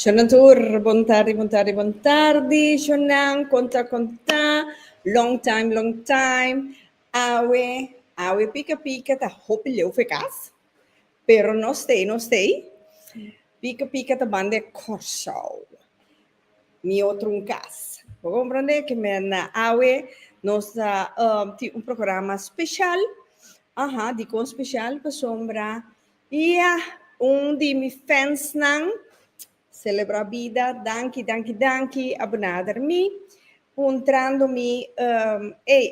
Shonnan tur, bon tardi, bon tardi, bon tardi shonnan, kon ta, kon ta, long time, long time, awe, awe pika pika ta hopi leu for e kas, pero no stay, no stay, pika pika ta banda e Kòrsou, mi otro un kas, bo komprende ke mi a na awe nos a tin un programa speshal, aha, dikon speshal? Pasobra Ia un di mi fans nan celebra bida danki danki danki a benader mi puntrando mi ey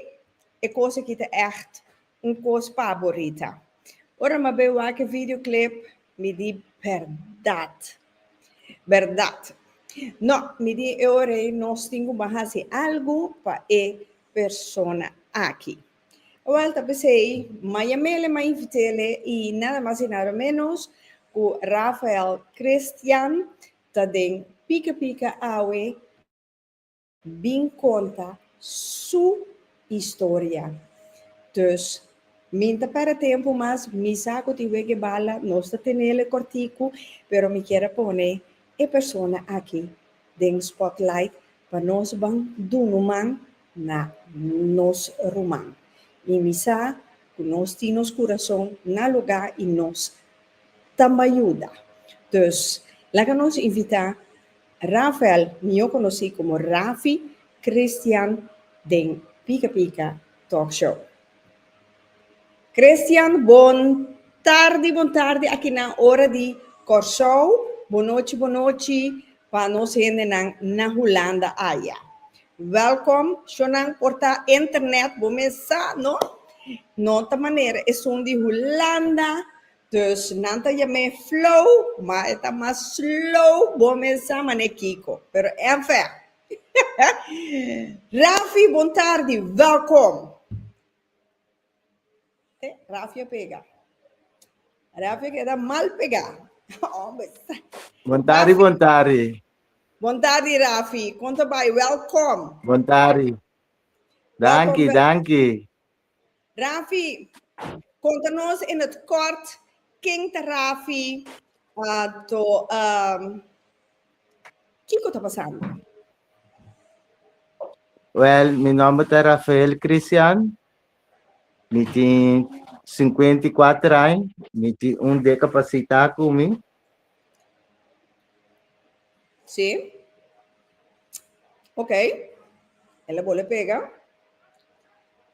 e cos aki ta echt un cos pa borita ora ma be wak e video clip mi di berdad berdad no mi di e ora ey nos tin cu baha haci algo pa e persona aki. Awal ta pesey Maya Mele, May Vitele y nada mas y nada menos cu Rafael Christian ta den Pika Pika awe bin conta su historia. Dus mi n'ta perde tempo mas, mi sa cu tin wege bala, nos ta tenele corticu pero mi kier a pone e persona aki den spotlight pa nos ban dunu man na nos ruman i mi sa ku nos tin nos kurason na lugá i nos ta bai yuda. Dus laga nos invitá Rafael, mihó konosí komo Rafi Christian den Pika Pika Talk Show. Christian bon tardi bon tardi akinan ora di Kòrsou, bon nochi bon nochi pa nos hendenan na Hulanda aya. Wèlkom shownan por ta internet, bo mes sa no? No ta manera esun di Hulanda, dus nan ta yam'é flow, ma e ta mas slow, bo mes sa man'é kiko? Pero enfin. Rafi bon tardi, wèlkom! Te Rafia pega. Rafia queda mal pega. Hombre. Bontari, bontari. Bontari, Rafi. Konta bai, welkom. Bontari. Danki, danki. Rafi, konta nos in het kort, king ta Rafi, uh, to, um, Kiko ta pasando? Well, mi nomber ta Rafael Christian. Mi tin 54 años. Mi tin un discapacidad con mi. Sí. Ok. Él le pega.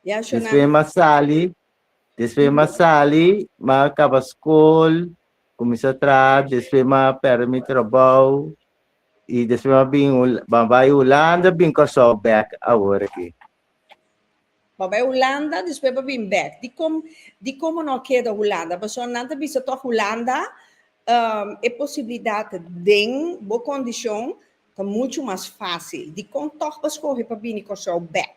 Ya, Shona. Después me sali, Despues m'a sali, m'a kaba skol, kuminsá traha, despues m'a pèrdè mi trabou i despues m'a bin Hol- m'a bai Hulanda, bin Kòrsou bèk awor aki. Bo bai Hulanda, despues bo bin bèk. Di kom di kom bo no keda Hulanda? Pasobra nan ta bisa tòg Hulanda ehm e posibilidat den bo kondishon ta muchu mas fásil. Dikon tòg bo skohe pa bini Kòrsou bèk?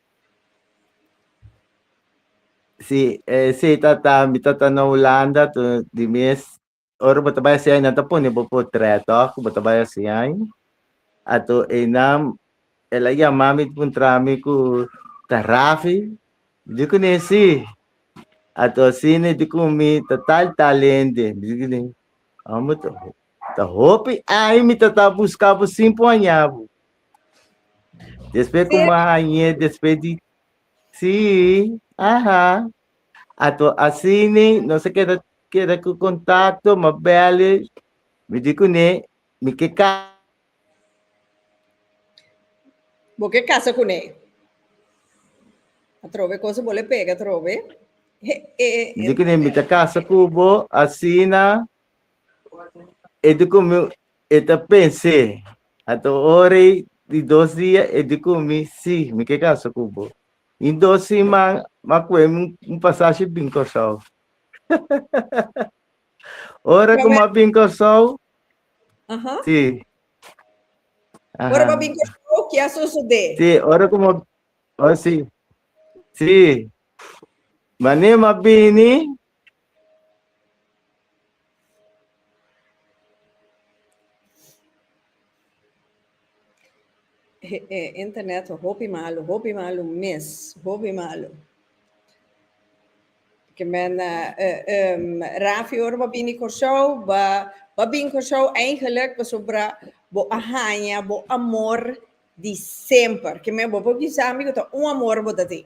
Sí, eh, sí, tata, mi tata na Holanda, tu di mes, ora bo ta bai si ai, nan ta pone bo portret, oh, ku bo ta bai si ai. Ato e nam, el a yama mi pun trami ku ta Rafi, di ku ne si. Ato si ne di ku mi ta tal tal hende, mi di ku ne, amo ta, ta hopi ai mi tata buska bo sin pon aña bo. Después ku mañe, después di si, aha. Ato asini nos a keda keda ku kontakto, ma bèl'e, mi di kuné mi ke ka. Bo ke kasa kuné. Atrobe kos bo le pega atrobe. He, e, e, Mi di kuné mi ta kasa ku bo, asina. E di ku mi, E ta pens'é, A ta ora ei di dos dia e di ku mi, sí, mi ke kansa ku bo. In dos siman m'a ku'é un pasashi bin Kòrsou. Ora ku m'a bin Kòrsou, sí, aha. Ora m'a bin Kòrsou, ke a sosodé? Sí, ora ku m'a, sí, sí, manera m'a bini, E internet ta hopi malu, hopi malu mes, hopi malu. Ke men Rafi ora bo bini Kòrsou, bo a bin Kòrsou eigenlik pasobra bo a haña bo amor di semper. Ke men bo por bisa mi ku ta un amor bo ta tin.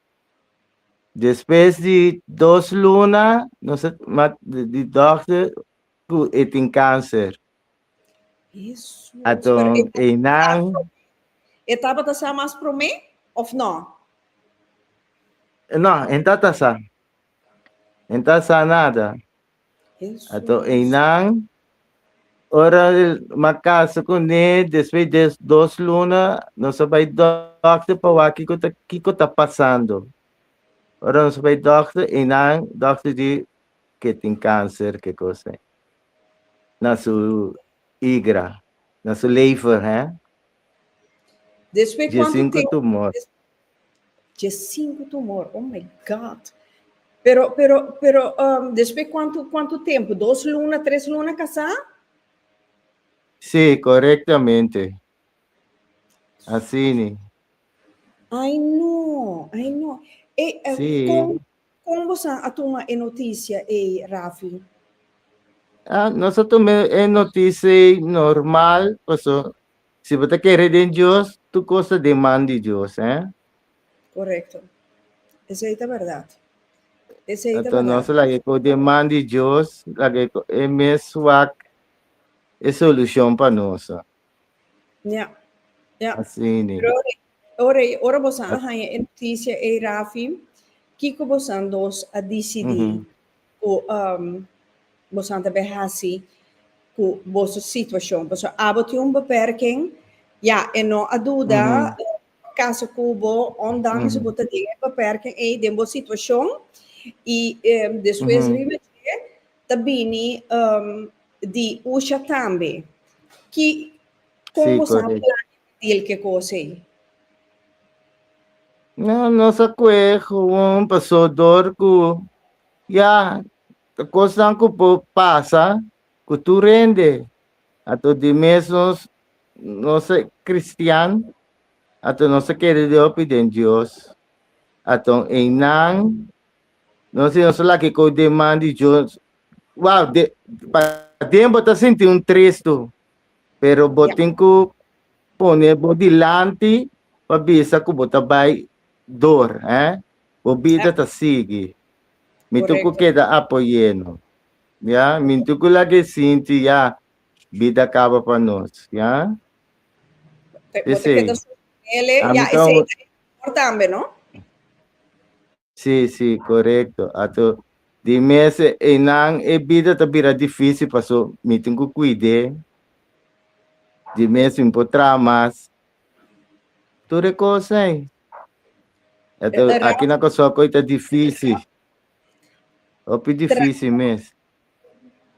Despues di dos luna nos a mat di dokter ku e tin kanser. Aton einan. E tabata sa mas promé òf nò? Nò, e no ta sa. E no ta sa nada. Ato einan ora mak kasa kuné despues de dos luna nos a bai dòkter pa wak kiko ta kiko ta pasando. Ora nos a bai dòkter einan dòkter di ke tin kanser ke kos ei na su igra, na su lever hè. Despues Dje cuánto sinku tempo? tumor. Des- Dje sinku tumor. Oh my God. Pero, pero, pero, um, despues cuánto, cuánto tempo? Dos luna, tres luna casá? Sí, correctamente. Así ni. Ay no, ay no. E, eh, Sí. con, Kon bosan a tuma e notisia ei, Rafi? Nos a tuma e notisia ei normal, paso si bo ta kere den Dios, tur kos ta den man di Dios. Korekto. Esei ta bèrdat. Esei ta bèrdat. Anto nos a laga e kos den man di Dios, laga e kos e mes wak e solushon pa nos. Ya, ya. Asina. Pero Ora, ora boso a haña e noticia ei, Rafi, kico bosan dos a dicidi mm -hmm. cu um, bosan ta bai hasi cu boso situacion? Boso abo tin un beperking, ja, e no a duda mm -hmm. casa cubo, ondanks mm -hmm. bo ta den e beperking ei den bo situacion, y um, despues mm -hmm. riba dje ta bini um, di usha tambe. Ki, con sí, bosan plan Dil ke kos ei? No, nos a kue gewoon paso dor ku ya ta kosnan ku por pasa ku tur hende. Ato di mes nos nos a kristian, ato nos a kere di hopi den Dios. Ato einan nos di nos a laki ku deman di Dios. Wou, de pa den bo ta sinti un tres tu. Pero bo tin ku pone bo dilanti pa bisa ku bo ta bai dor, he? Bo bida ta sigui. Mi tur ku keda apoyéno, ya. Mi tur ku laga e sinti, ya, bida kaba pa nos, ya. Bo ta keda sostenele, ya. Esei ta e temor tambe, no? Si, si, korekto. Ato di mes einan e bida ta bira difísil, paso mi tin ku kuid'é. Di mes mi por traha mas. Tur e kos ei. Ato aki na Kòrsou ko'i ta difísil. Hopi difísil mes.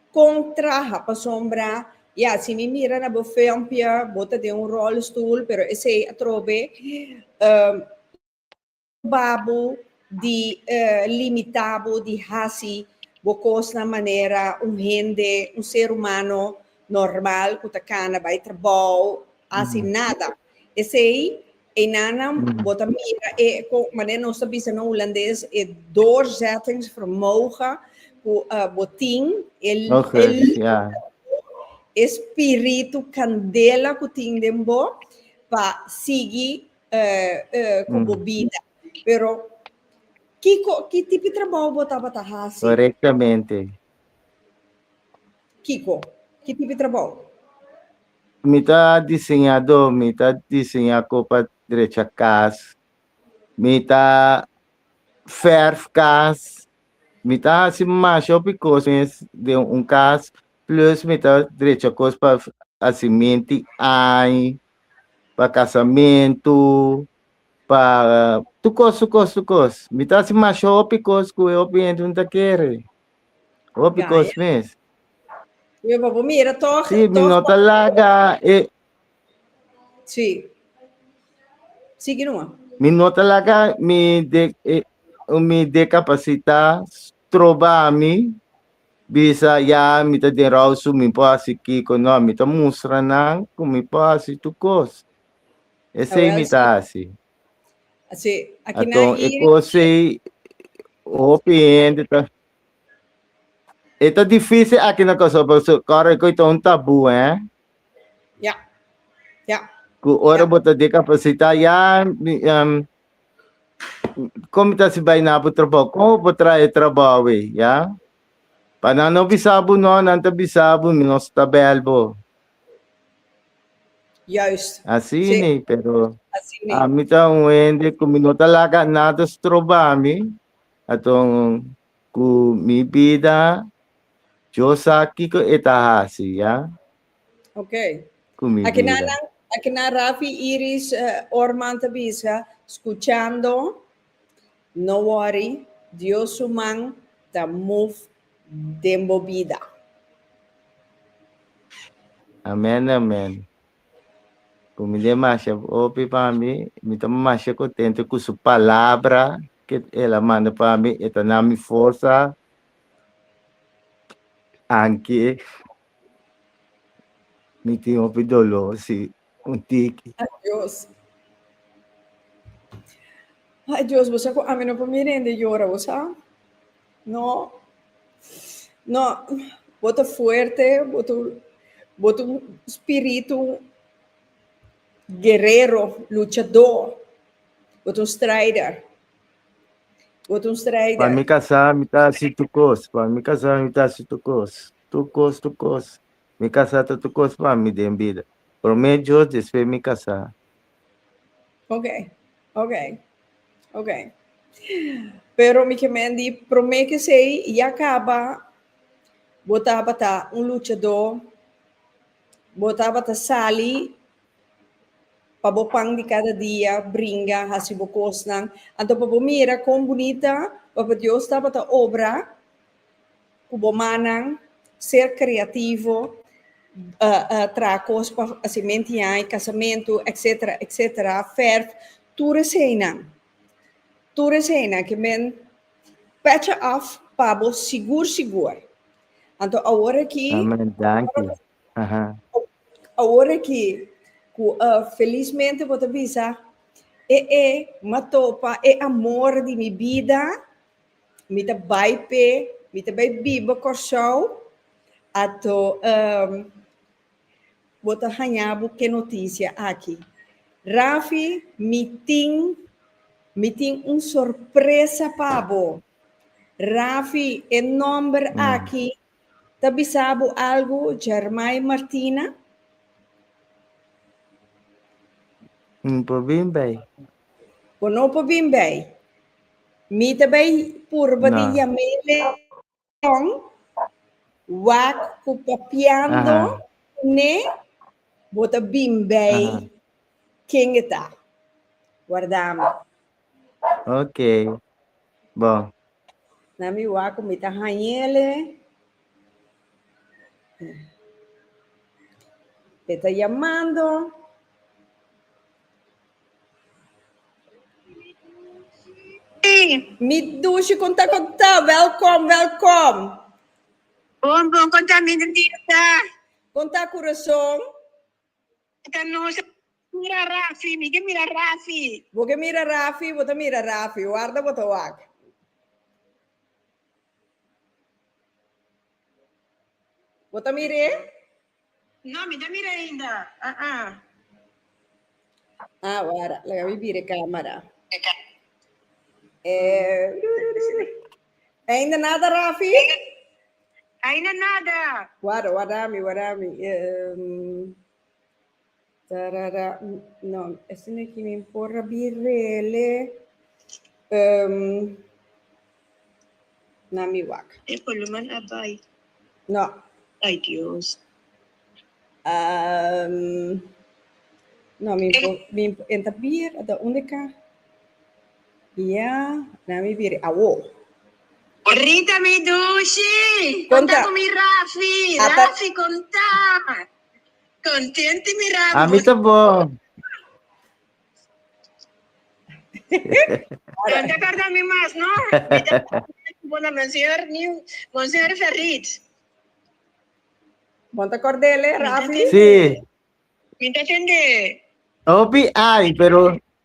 Kon traha? Pasobra, ya, si mi mira na bo filmpje, bo ta den un rolstoel, pero esei atrobe, Cuba bo di limita bo di haci bo cosnan manera un hende, un ser humano normal cu ta cana bay trabao, haci nada. Esey eynan nan bo ta mira e, manera nos ta bisa na Hulandes, e doorzettingsvermogen cu bo tin, e spiritu candela cu tin den bo pa sigui eh, eh, ku mm. bo bida. Pero, kiko, ki tipi trabao bo tabata hasi? Correctamente. Kiko, ki tipi trabao? Mi ta diseñado, mi ta diseña copa derecha cas, mi ta verf cas, mi ta hasi masha opi cosas de un cas, plus mi ta derecha cos pa hasi minti ai, pa casamentu pa tur cos tur cos tur cos mi ta haci masha hopi cos cu e hopi hende no ta kere hopi Ya, cos ya. mes Yo pa por mira toch. si mi toch no ta laga e Sí. Sigui nomás. mi no ta laga mi de eh, mi decapacita troba mi bisa ya mi ta den rou su mi por hasi kiko no mi ta mustra nan ku mi por hasi tur kos esei mi ta hasi aton e kos ei hopi hende ta e ta difisil aki na Kòrsou pasobra kòrda ku eta un tabu he ku ora bo ta dikapasitá ya Kon mi ta hasi bai na bo trabou? Kon bo por traha e trabou ei, ya? Pa nan no bisa bo? No, nan ta bisa bo, mi no sta bèl bo. Juist. Así Sí, ni, pero así mi. a mi ta un hende ku mi no ta laga nada stroba mi. Aton ku mi bida, yo sa kiko e ta hasi, ya? Ok. Cu mi Aki na, vida. aki na Rafi, Iris, eh, Orman ta bisa, scuchando, no worry, Dios su man ta move den bo bida. Amen, amen. Cu mi demasha hopi pa mi, mi ta masha contento cu su palabra que el a manda pa mi, e ta na mi forza anki Mi tin hopi doló si un tiki. Adios. Adios, bo sa ku ami no por mi rende yora, bo sa? No. No, bo ta fuerte, bo ta bo ta un spiritu guerero, luchadó, bo ta un strider. Bo ta un strider. Pa mi kasá mi ta hasi tur kos, pa mi kasá mi ta hasi tur kos. Tukos, tukos. Mi kasá ta tukos pa mi den bida. Promé Dios despues mi kasá. Oke, oke, oke. Pero mi kemen di promé kesei ya kaba bo tabata un luchadó, bo tabata sali pa bo pan di kada dia, bringa, hasi bo kosnan. Anto pa bo mira kon bunita Papa Dios tabata obra. Ku bo mannan, ser kreativo, traha kos pa hasi mentiai, kasamentu, etsetera, etsetera, fèrf, tur esei einan. Tur esei einan ke men pècha òf pa bo sigur sigur. Anto awor aki, awor aki ku felismente bo ta bisa, e e m'atopa e amor di mi bida. Mi ta bai p'e, mi ta bai biba Kòrsou, ato ehm, bo ta haña bo ke notisia aki. Rafi, mi tin, mi tin un sorpresa pa bo. Rafi, e nòmber aki Ta bisa bo algu Germay Martina? N por bin bay. Bo no por bin bay. Mi ta bay purba di yam'é leon, wak cu papiando cu n'é, bo ta bin bay ken e ta. Warda mi. Ok. Bon. Na mi wak ku mi ta hañele. E ta yamando. Mi dushi kon ta kon ta. Welkom, welkom. Bon, bon, kon ta mi Denise? Kon ta Curaçao? Ta nos mira Rafi, mi ke mira Rafi. Bo ke mira Rafi, bo ta mira Rafi, warda bo ta wak. Bo ta mira e? No, mi ta mira ainda. Ah, ah. Ah, wara, laga mi bira e camera. E. Ainda nada Rafi? Ainda nada. Wada, wada mi, wada mi. Um, tarara, no, ese no que me por rabirele. Um, na mi wak. E columna abai. No. Ay Dios. Um, no, mi, mi, en tabir, da unde ka? Ya, na mi biri awo. Rita mi dushi, konta ku mi Rafi, Rafi konta. Kontenti mi Rafi. Ami ta bon. Don ta korda mi mas, no? Mi ta bona monseñor, mi monseñor Ferrit. Bon ta korda ele, Rafi? Si. Mi ta tende. Opi ai, pero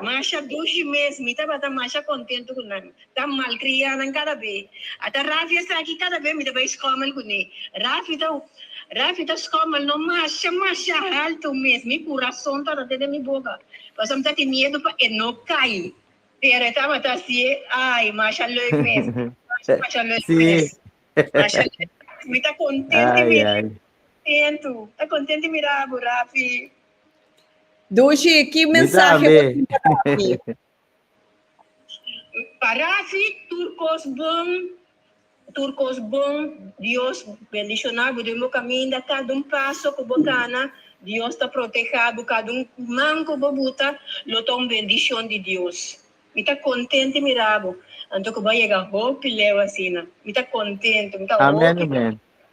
Masha dushi mes, mi tabata masha kontentu ku nan. Ta malkria nan kada be. Ata Rafi esaki kada be mi ta bai skòmel kuné. Rafi ta Rafi ta skòmel no masha masha haltu mes, mi kurason tabata den mi boka, pasobra mi ta tin miedu pa e no kai. Pero e tabata hasié ai masha leuk mes, masha masha leuk mes. Masha leuk mes, mi ta kontenti mes, mi ta kontentu, ta kontenti mira bo Rafi. Dushi, ki mensahe bo tin pa Rafi? Pa Rafi, tur kos bon, tur kos bon. Dios bendishona bo den bo kaminda. Kada un paso ku bo kana, Dios ta protehá bo. Kada un man ku bo buta, lo ta un bendishon di Dios. Mi ta kontente mira bo. Anto ku bo a yega hopi leu asina. Mi ta kontente, mi ta oki bo.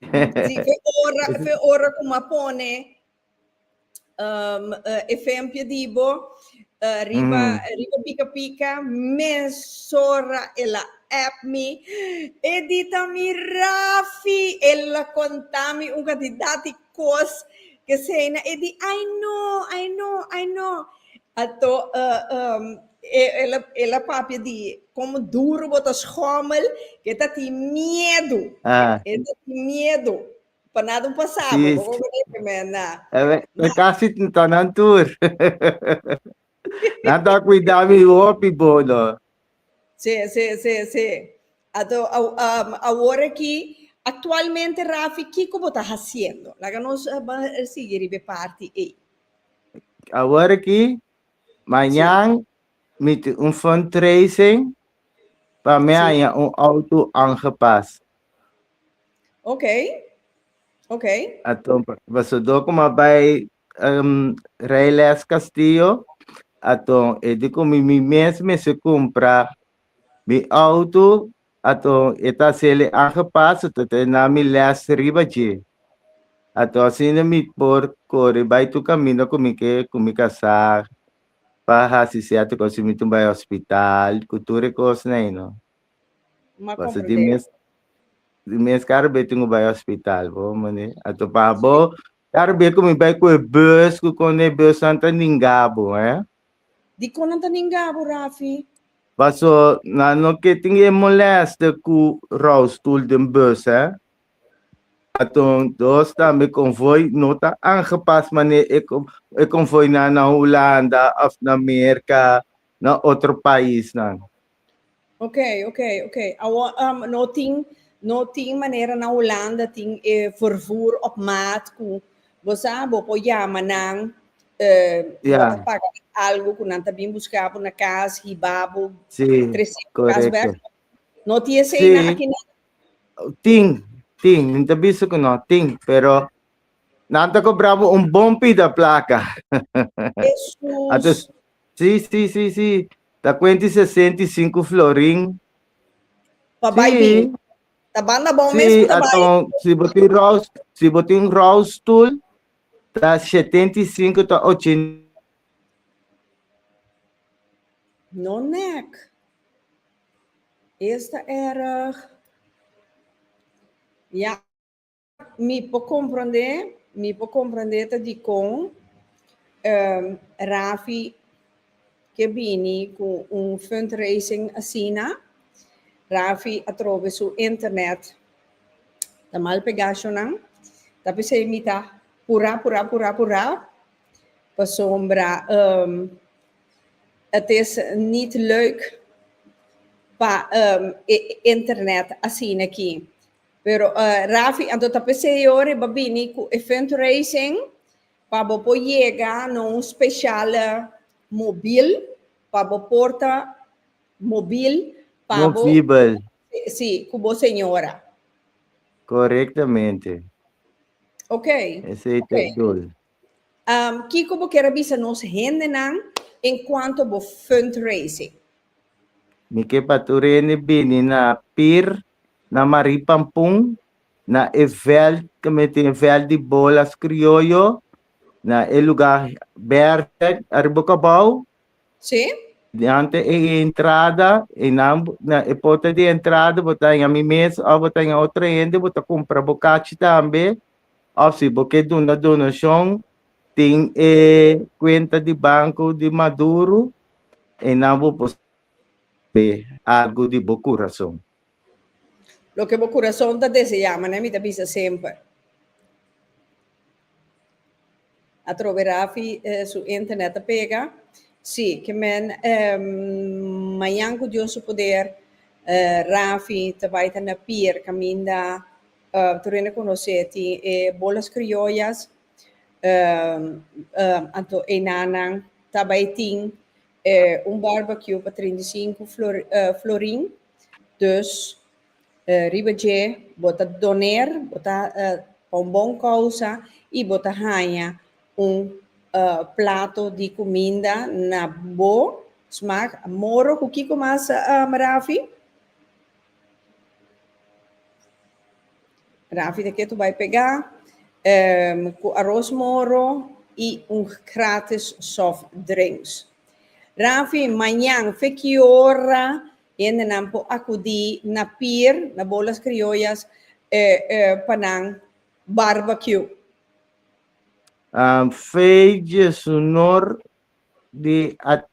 Sí, fe ora, fe ora cu ma pone um, uh, efempio di bo uh, riba, mm. riba pica pica, mesora el a app mi, edita mi Rafi, el a contami un cantidad di Cos que say na e di ay no, ay no, ay no. Ato uh um el a el a papia di como duro bo ta schommel que ta tin miedo. Ah. El ta tin miedo. Pa nada un pasa bo, Sí, bo sí. conoce que me na. E me, me casi tin tonan tur. Nan ta cuida mi hopi bo, no. Se, se, se, se. Ato, awor aki, actualmente Rafi, kico bo ta haciendo? Laga nos sigui riba e parti ey. Awor aki, mañan mi tin un fundraising pa mi haya un auto aangepas. Oké, oké. Ato, pasobra como a bay um, Rey Les Castillo, aton e di ku mi, mi mes mester kumpra mi auto, aton e ta sele aangepast, aton ta e na mi les riba dje. Aton asina mi por kore bai tur kaminda ku mi ke, ku mi ka sa pa hasi sierto kos, si mi tin bai hospital, ku tur e kosnan ei no. Ma Paso di comprende. mes, di mes karo be tin ku bai hospital, bo mane. Aton pa bo, E arbia ku mi bai ku e bus ku konde e busnan ta ningabu, eh. Dikon nan ta ningabu, Rafi? Paso nan no ke tin e molèste ku roustoel den bus, eh. Aton dos tambe konvoi no ta aangepas manera e e konvoinan na Hulanda òf na Merka, na otro paisnan. Ok, ok, ok. Awor, um, no tin, no tin manera na Holanda tin eh, vervoer op maat ku bosa bo po llama nan eh, yeah. bo paga algo ku nan ta bin busca bo na kas hibabo sí, 300 kas bek. No tiene sí. sei na aquí na. Tin, tin, min ta biso ku no tin, pero nan ta cobrabo un bon pida placa. Jesus. Atus, Sí, sí, sí, sí. Ta cuenta y sesenta y cinco florin. Pa bai Sí. bin. Ta banda bon mes Sí, pa ta bai. aton, si bo tin rouse, si bo tin rouse tool, ta 75 ta 80. No nek. Esta erg. Ya. Mi por comprende, mi por comprende ta dicon um, Rafi ke bini cu un fundraising asina. Rafi atrobe su internet ta mal pegacionan. Ta pesey mi ta pura, pura, pura, pura. Pasobra um, het is niet leuk pa um, e internet asina aki. Pero Rafi anto ta p'e CEO riba bini cu e fundraising pa bo por yega na un special mobil pa bo porta mobil pa bo Mobibel. si cu bo señora. Correctamente. Ok. Esey ta e dol. Kico bo kier a bisa nos hendenan en cuanto bo fundraising? Mi kier pa tur hende bini na pir Na Marie Pampun, na e veld ke me tin veld di bolas krioyo, na e luga berde ariba e kabou. Sí. Diante e entrada, einan bo, na e porta di entrada bo ta haya mi mes of bo ta haya otro hende, bo ta compra bo cachi tambe, of si bo ke duna donacion, tin e cuenta di banco di Maduro, einan bo por p'e algu di bo kurason. Loke bo kurason ta deseá, mané mi ta bisa semper. Atrobe Rafi su internet ta pega. Sí, ke men mañan ku Dios su poder Rafi ta bai ta na pier kaminda tur hende konos'é tin e bolas krioyas anto einanan ta bai tin e un barbecue pa trinta i sinku florin, dus riba dje bo ta doner, bo ta pa un bon kousa i bo ta haña un plato di kuminda na bo smak. Moro ku kiko mas, Rafi? Rafi ta ketu bai pega um cu aros moro y un gratis soft drinks. Rafi, mañan fe ki ora hendenan por acudi na pier, na Bolas Criollas eh eh pa nan barbecue? Um fe djesunor di a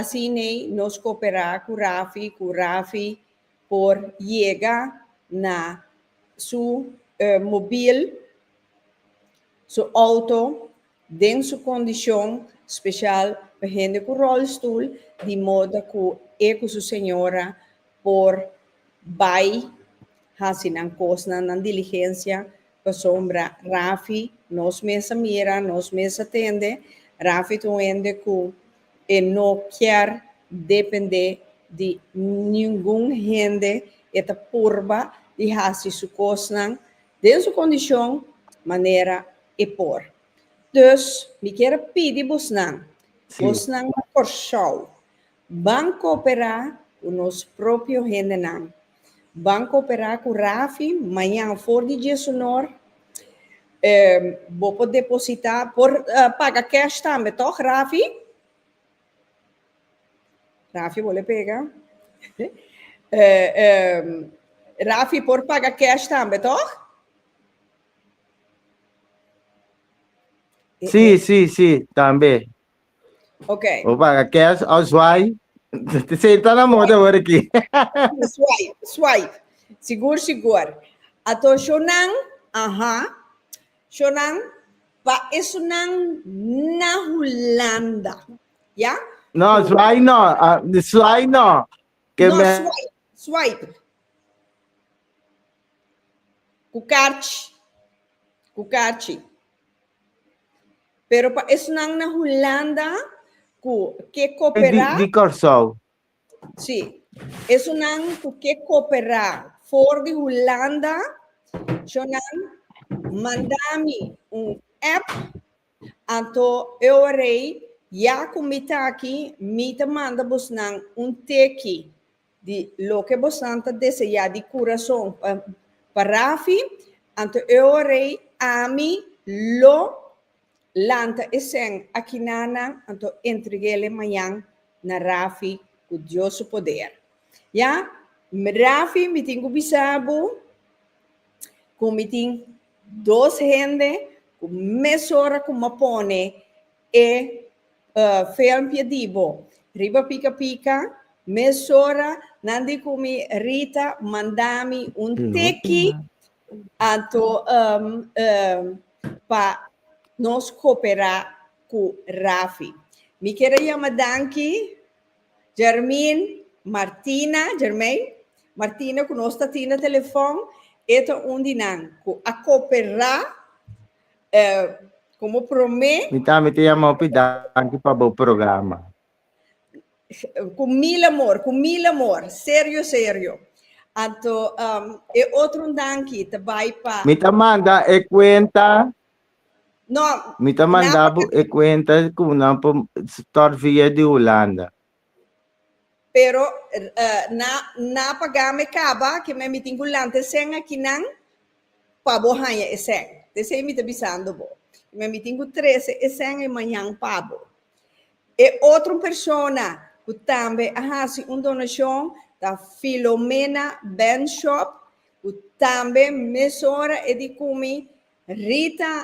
Asina ei nos koperá ku Rafi ku Rafi por yega na su mobil, su outo, den su kondishon, spesial pa hende ku rolstoel, di moda ku e ku su señora por bai hasi nan kosnan, nan diligensia Pasobra Rafi, nos mes a mira, nos mes a tende, Rafi ta un hende ku e no kier dependé di ningun hende, e ta purba di hasi su kosnan den su kondishon manera e por. Dus mi kier a pidi bosnan, bosnan ta forsau. Ban cooperá cu nos propio hendenan. Ban cooperá cu Rafi mañan for di diesunor. Bo por depositá, por paga cash tambe toch Rafi? Rafi bo le pega. Rafi por paga cash tambe toch? Sí, sí, sí, tambe. Okay. O paga cash o swipe. Senta na moda hoor aqui. swipe, swipe. Sigur, sigur. Ato shonan, aha. Shonan, pa esunan na Hulanda. Ja? No, swipe no. Uh, swipe no. Que no, me... swipe, swipe. Cucarchi. Cucarchi. Pero pa esnan na Hulanda ku ke E di, kooperá, di Kòrsou. sí, esnan ku ke kooperá for di Hulanda, cho nan manda mi un app, anto Eorei ya ku mi ta aki, mi ta manda bosnan un teki. Di loke bosan ta deseá di kurason pa Rafi, anto e oa rei, ami lo lanta e sèn akiná nan, anto entreg'ele mañan na Rafi ku Dios su poder. Ya, Rafi, mi tin ku bisa bo ku mi tin dos hende ku mesora ku m'A pone E filmpje di bo. Riba pica pica, mesora nan di cu mi Rita manda mi un teki anto pa nos coopera cu Rafi. Mi kier a yama danki Germain Martina, Germain Martina cu nos ta tin na telefon, e ta un di nan cu a coopera Eh, como promé. Mi también te llama hopi danki pa bo programa. Con eh, mil amor, con mil amor, serio, serio. Anto, um, e otro danki te bai pa. Mi ta manda e cuenta. No. Mi ta manda e cuenta con una por via de Holanda. Pero na na pagá me kaba ke me mitin ku lante sèn akinan pa bo haña e sèn. P'esei mi ta bisando bo, i me mitin ku trese e sèn e mañan pa bo. E otro persona ku tambe a hasi un donashon ta Filomena Benschop, ku tambe mesora e di ku mi, Rita,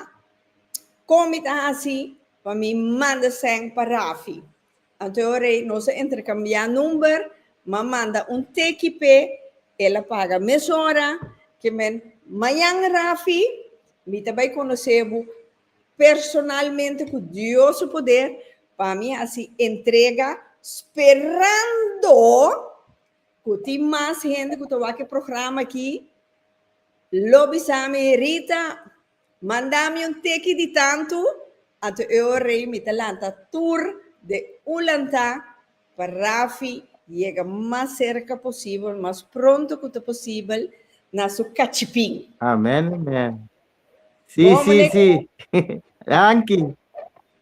kon mi ta hasi pa mi manda sèn pa Rafi? Anto ora ei nos a interkambiá number, m'a manda un teki p'e, el a paga mes ora, kimen, Mañan Rafi, mi ta bai konosé bo personalmente ku Dios su poder, pa mi hasi entrega sperando ku tin mas hende ku ta wak e programa aki, lo bisa mi Rita, Manda mi un teki di tantu, anto e ora ei mi ta lanta tur de ulantá pa Rafi yega mas serka posibel, mas pronto ku ta posibel na su kachipin. Amen amen si Bon si si muleku. danki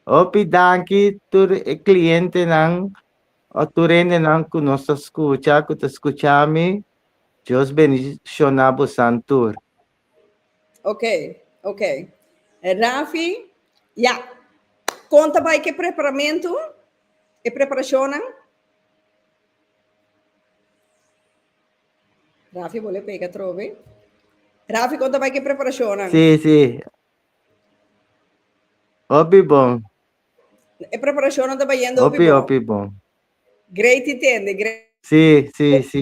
hopi danki tur e klientenan o tur hendenan ku nos ta skucha ku ta skucha mi Dios bendishoná bosan tur. Ok, ok. Eh, Rafi, ya. Konta bai ke preparamentu, e preparashonnan? Rafi bole pega trobe. Rafi, konta bai ke preparashonnan? Sí, sí. Hopi bon, E preparashonnan ta bayendo hopi hopi, bon. hopi bon. Great i tende, great. Sí, sí, sí.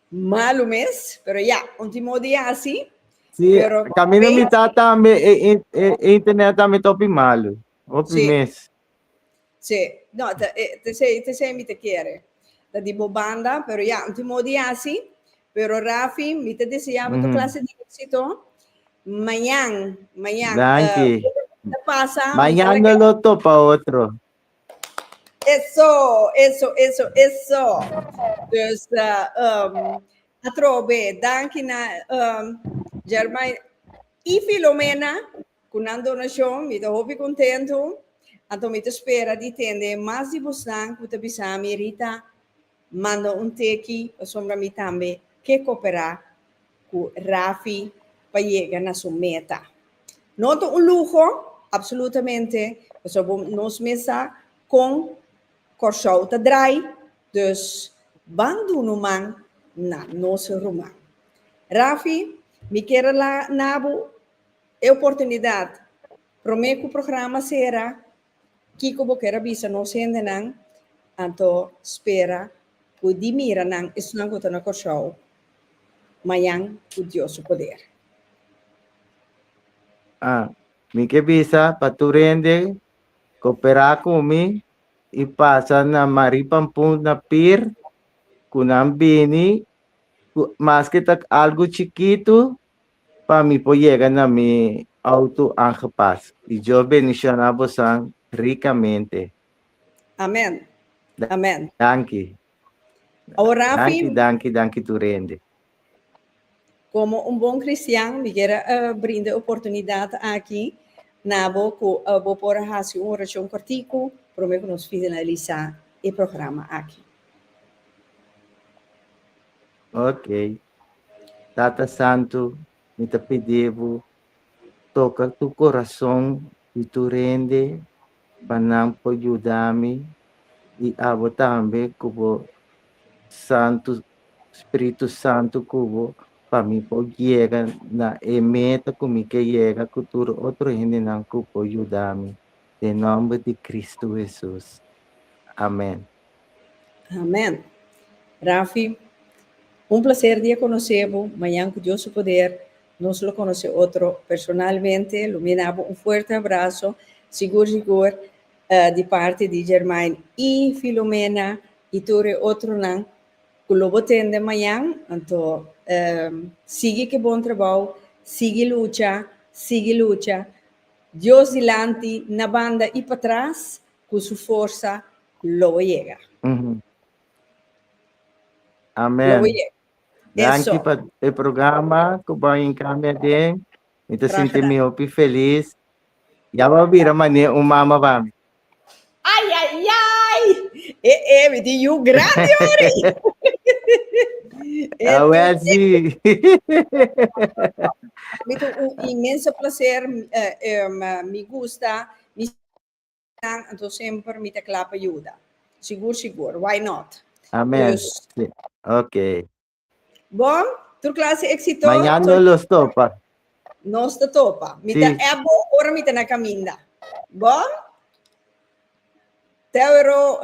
Malu mes, pero ya, un timo di asi. Sí, pero, camino okay. mitad tambe e, e, e, e internet tambe topi malu. Hopi sí. mes. Sí, no, te, eh, te sei, te sei mi te quiere. Da di bo banda, pero ya, un timo di asi. Pero Rafi, mi te desea mm -hmm. tu mhm. clase di éxito. Mañana, mañana. Dankie. Uh, eh, pasa, mañana lo topa otro. Eso, eso, eso, eso. Dus uh, um, atrobe, danki na um, Germay i Filomena, ku nan donashon, mi ta hopi kontentu. Anto mi ta spera di tende mas di busnan ku ta bisa mi Rita, Manda un teki pasobra mi tambe ke koperá ku Rafi pa yega na su meta. No ta un luho, absolutamente, pasobra nos mes sa kon Kòrsou ta drai, dus ban duna un man na nos ruman. Rafi, mi kier a la na bo e oportunidat promé ku programa sera. Kiko bo kier a bisa nos hendenan? Anto spera ku di mira nan esnan ku ta na Kòrsou mañan ku Dios su poder. A Mi ke bisa pa tur hende koperá ku mi i pasa na Marie Pampoen na Pier ku nan bini ku maske ta algu chikitu. Pa mi por yega na mi auto aangepast. Di Dios benishona bosan rikamente. Amen amen. Danki. Awor Rafi. Danki danki danki tur hende. Komo un bon kristian mi kier a brinda e oportunidat aki na bo ku bo por hasi un orashon kòrtiku promé ku nos finalisá e programa aki. Oke. Tata Santu, mi ta pidi bo, toka tu corazon di tu rende pa nan por yuda mi y abo tambe cu bo Santu Spiritu Santu cu bo pa mi por yega na e meta cu mi ke yega cu tur otro hendenan cu por yuda mi den nomber di Cristo Hesus. Amen. Amen. Rafi, un placer di a conoce bo, mañan cu Dios su poder nos lo conoce otro personalmente, lo mina bo un fuerte abrazo, sigur sigur di parte di Germain y Filomena y tur e otronan cu lo bo tende mañan, anto sigui cu e bon trabao, sigui lucha, sigui lucha, Dios dilanti, na banda y patras, cu su forsa lo bo yega. Lo bo Amen. yega. Danki Eso. pa e programa cu bo a encami aden. Mi ta Graag sinti mi gedaan. hopi feliz. Ya bo a bira manera un mama pa mi. Ay, ay, ay! E, e, mi tin yu grandi ori. E, A Welsi. mi tin un inmenso placer, eh, em, mi gusta, mi nan anto semper mi ta kla pa yuda sigur sigur why not Amen. Dus- Sí. Ok. bon tur klase exito Mañana so- no lo stopa. nos te topa mi Sí. ta ebo ora mi ta na caminda bon tewero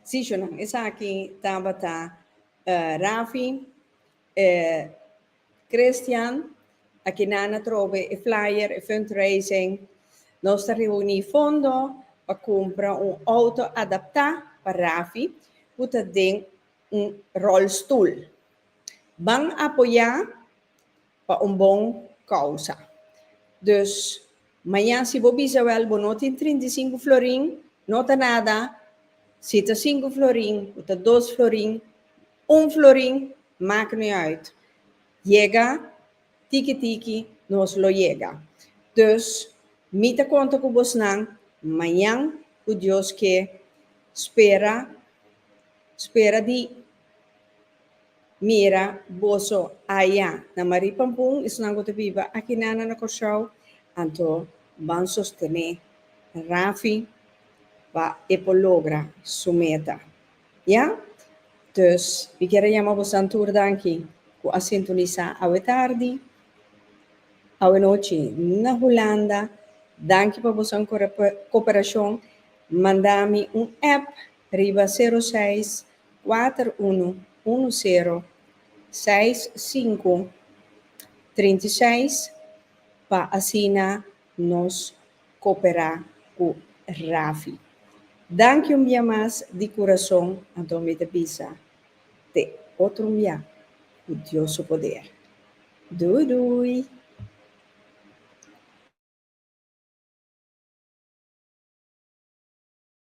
Sí, Shunan, esaki tabata uh, Rafi, uh, Christian, a kina na trobe e flyer, e fundraising. Nos ta reuni fondo pa kumpra un auto adaptá pa Rafi ku ta den un rolstoel. Ban apoyá? Pa un bon causa. Dus, maña si bo bisa wel bo no tin trinta i sinku florin, no ta nada, si ta sinku florin o ta dos florin, un florin, mak mi uit. Yega tiki tiki nos lo yega. Dus, mi ta konta ku bosnan mañan ku Dios ke spera spera di Mira, boso aya na Marie Pampun, esunnan ku ta biba akinana na Kòrsou, anto ban sostené Rafi pa e por logra su meta. Ya? Dus, mi kier a yama bosan tur dan aki ku a sintonisá awe tardi, awe nochi na Hulanda. Danki pa boso koperashon. Manda mi un app riba sero seis kuater unu unu sero seis sinku trinta i seis pa asina nos koperá ku Rafi. Danki un bia mas di kurason anto mi ta bisa te otro un bia ku Dios su poder. Dui dui!